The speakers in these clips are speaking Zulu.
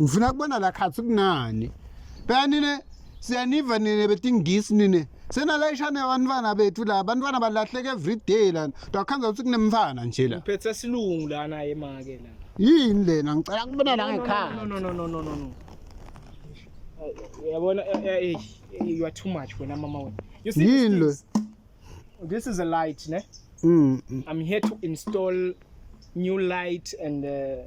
ngifuna kubona la khathi kunani phela nine siyaniva nine betingisi nine senalayisha nebantwana bethu la abantwana balahleka every day lana ndakhanza ukuthi kunemfana nje la Phethe silungu lana emake la. yini lena ngicela kubona la No ngekhaya no no no no no no. no. Uyabona eh, eh, eh, you are too much wena mama wena. You see Yini lo? this, thing? this is a light ne. Mm, mm. I'm here to install new light and uh,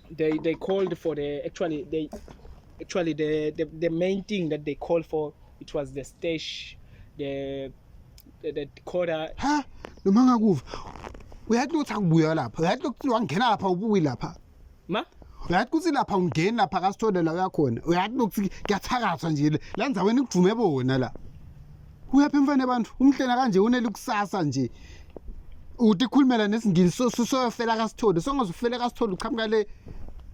they they called for the actually they actually the the, the main thing that they called for it was the stage the the, the quarter ha noma ngakuva uyathi ukuthi akubuya lapha uyathi ukuthi wangena lapha ubuyi lapha ma uyathi ukuthi lapha ungeni lapha kasithole la uyakhona uyathi ukuthi kuyathakathwa nje la nzaweni kujume bona la uyaphi mfana abantu umhlena kanje unele kusasa nje uthi khulumela nesingisi soyofela kasitholi songaze ufele kasitholi uqhamuka le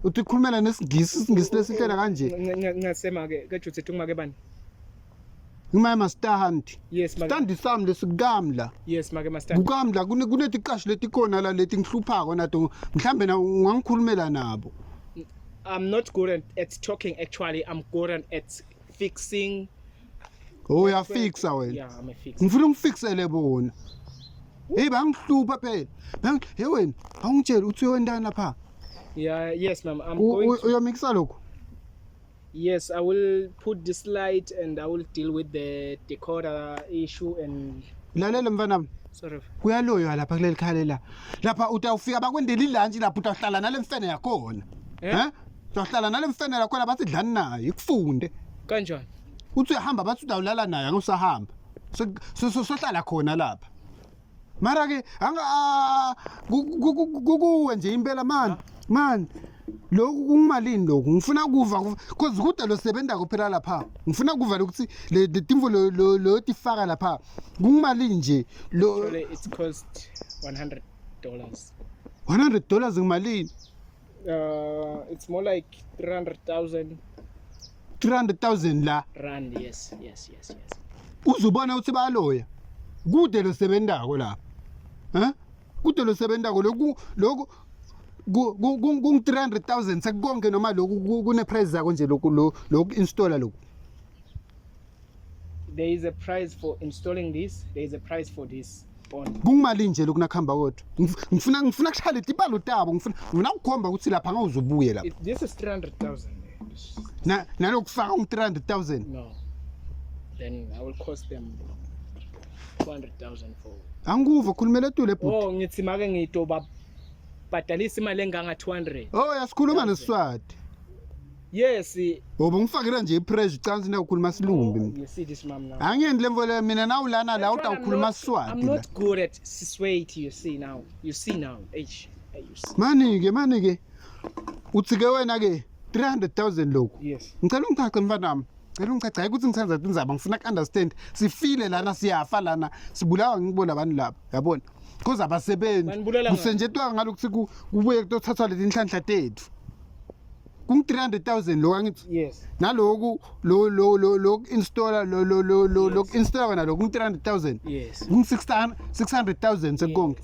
uthi khulumela nesingisi isingisi lesihlena kanje ngasema ke ke juthi uma ke bani Ngimaya mastandi. Yes maka. Standi sami lesikamla. Yes maka mastandi. Kukamla kune kunetiqasho letikhona la leti ngihluphako nato mhlambe na ungangikhulumela nabo. I'm not good at, at talking actually. I'm good at fixing Oh, uyafixa wena Yeah, I'm a fix. ngifuna ungifiksele bona heyi bangihlupha phela Bang- he wena awungitsheli uthi uyontana pha Yeah, yes, ma'am. I'm U- going. u- To, uyomikisa lokhu yes, I will put this light and I will deal with the decoder issue and lalela mfanami sorry. kuyaloywa lapha kuleli khale la lapha utawufika bakwendela ilantshi lapha utawuhlala nale mfene yakhona Eh? Eh? Uzohlala nale mfene lakhona bathi dlani nayo ikufunde. Kanjani? Uthi uyahamba bathi udawulala naye akusahamba. Sohlala khona lapha. Mara ke anga ah, kukuwe nje impela man. Man. Lokhu kungimalini lokhu? Ngifuna kuva cause kude lo sebenza kuphela lapha. Ngifuna kuva ukuthi le timvo lo lo tifaka lapha. Kungimalini nje? Lo it's cost 100 dollars. 100 dollars ngimalini? Uh, it's more like 300,000 300,000 la rand. Yes, yes, yes, yes. uzubona ukuthi bayaloya kude losebenzako lapha eh kude losebenzako lokhu lokhu ku- ku- ku- kungu 300000 sekukonke noma lokhu ku- kune price zako nje lokhu lo- lokhu installer lokhu There is a price for installing this. There is a price for this. Kungimali nje lokuna khamba kodwa. Ngifuna ngifuna kushayela itibalo tabo. Ngifuna ngifuna ukukhomba ukuthi lapha ngawuzobuye lapha. This is 300,000. Na nalokufaka um 300,000. No. Then I will cost them 200,000 for. Anguva khulumela tu le bhuti. Oh ngithi make ngitoba bhadalisa imali enganga 200. Oh yasikhuluma nesiswati. yes ngoba ungifakela nje ipressure ucansi ndawukhuluma silumbi oh, ngesithi simam now angendi le mfo le mina nawu lana la utawukhuluma siswati i'm not good at siswati you see now you see now eish mani ke mani ke uthi ke wena ke 300000 lokhu yes ngicela ungichache mfana wami cela ungichache hayi ukuthi ngithanza tinzaba ngifuna ku understand sifile lana siyafa lana sibulawa ngibona abantu laba yabona because abasebenzi kusenjetwa ngalokuthi kubuye kutothathwa letinhlanhla tethu kungu 300000 lo angithi yes naloku lo lo lo lo installer lo lo lo lo lo installer wena lo kungu 300000 yes kungu 600 600000 sekonke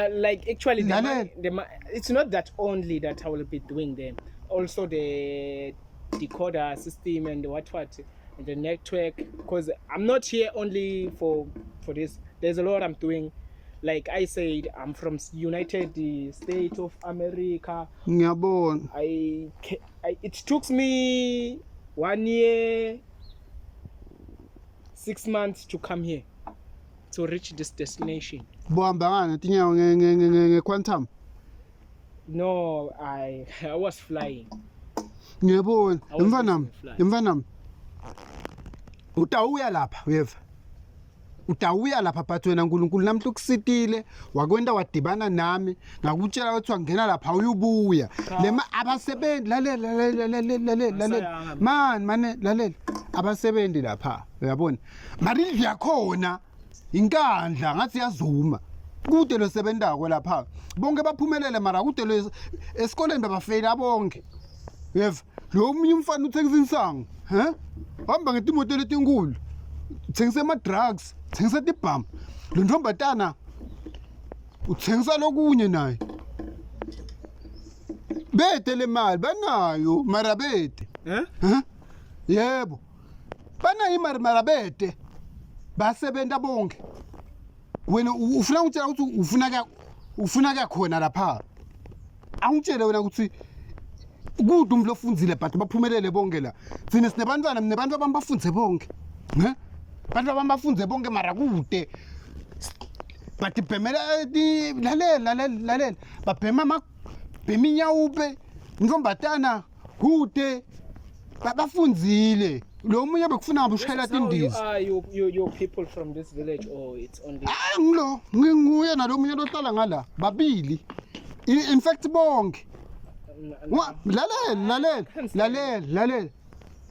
like actually the money, the money, it's not that only that I will be doing them also the decoder system and what what and the network because I'm not here only for for this there's a lot I'm doing like i said i'm from united state of america ngiyabona I, I it took me one year six months to come here to reach this destination bohamba ngani tinyawo nge-quantum no i i was flying ngiyabona mfanami mfanami utawuya lapha uyeva utawuya lapha but wena nkulunkulu namhla ukusitile wakwenta wadibana nami ngakutshela ukuthi wangena lapha uyubuya lema abasebenzi lalela lalela lalela lalela mani mane lalela abasebenzi lapha uyabona marindlu yakhona inkandla ngathi yazuma kude lo sebentako lapha bonke baphumelele mara kude lo esikoleni babafeyila bonke uyeva lo munye umfana uthengisa insangu he hamba ngetimoto letinkulu uthengisa ama-drugs uthengisa tibhamu lo ntombhatana uthengisa lokunye naye bete le mali banayo mara bete Eh? Huh? yebo banayo imali mara bete basebenza bonke wena u- ufuna ukutshela ukuthi ufuna ka- ufuna kakhona lapha Angitshele wena ukuthi kude umuntu ofundzile but baphumelele bonke la. Thina sinebantwana mina abantu abami bafundze bonke. Ne? Abantu abami bafundze bonke mara kude. But bhemela lalela lalela lalela. Babhema ama bhema inyawupe. Ntombatana kude ba- bafunzile lo munye bekufuna ngabe ushayela This is how you tindiza are, you, you, you people from this village, or it's only. hayi ngilo nginguye nalo munye lohlala ngala babili I- in fact bonke N- n- Wa- lalela lalela lalela lalela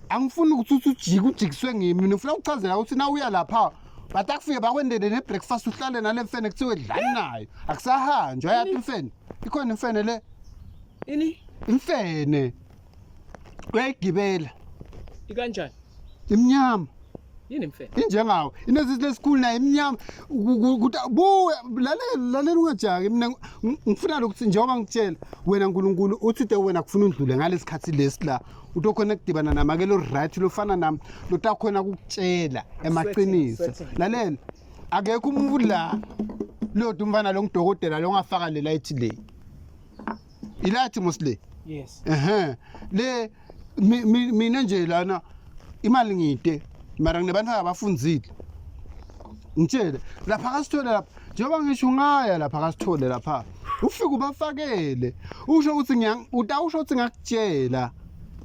angifuni ukuthi uthi ujike ujikiswe ngimi mina ngifuna ukuchazela ukuthi na uya lapha batakufike bakwendele ne-breakfast uhlale nale mfene kuthiwe dlani nayo akusahanjwa yathi mfene ikhona imfene le ini imfene uyayigibela ikanjani imnyama yini mfethu injengawo inezithi lesikhulu naye imnyama ukuthi buwe lalela lalela ungajaki mina ngifuna lokuthi njengoba ngitshela wena nkulunkulu uthi te wena kufuna undlule ngalesi khathi lesi la utokhona kudibana namakelo right lofana nami lotakhona kukutshela emaqiniso lalela akekho umuntu la lodwa umfana lo ngudokotela lo ngafaka le light le ilathi mosle yes ehe le mina nje lana imali ngide mara nginebantu abafundzile ngitshele lapha kasithole lapha njengoba ngisho ungaya lapha kasithole lapha ufike ubafakele usho ukuthi utawusho ukuthi ngakutshela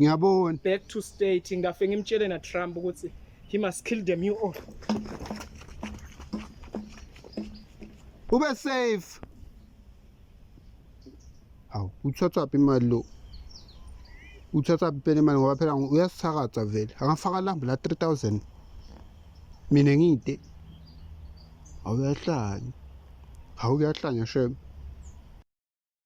ngiyabona back to state ngafe ngimtshele na Trump ukuthi he must kill them you all ube safe hawu uthatha phi imali lo uthatha phi phela imali ngoba phela uyasithakatha vele angafaka lambu la 3000 mina ngide awuyahlanya awuyahlanya shem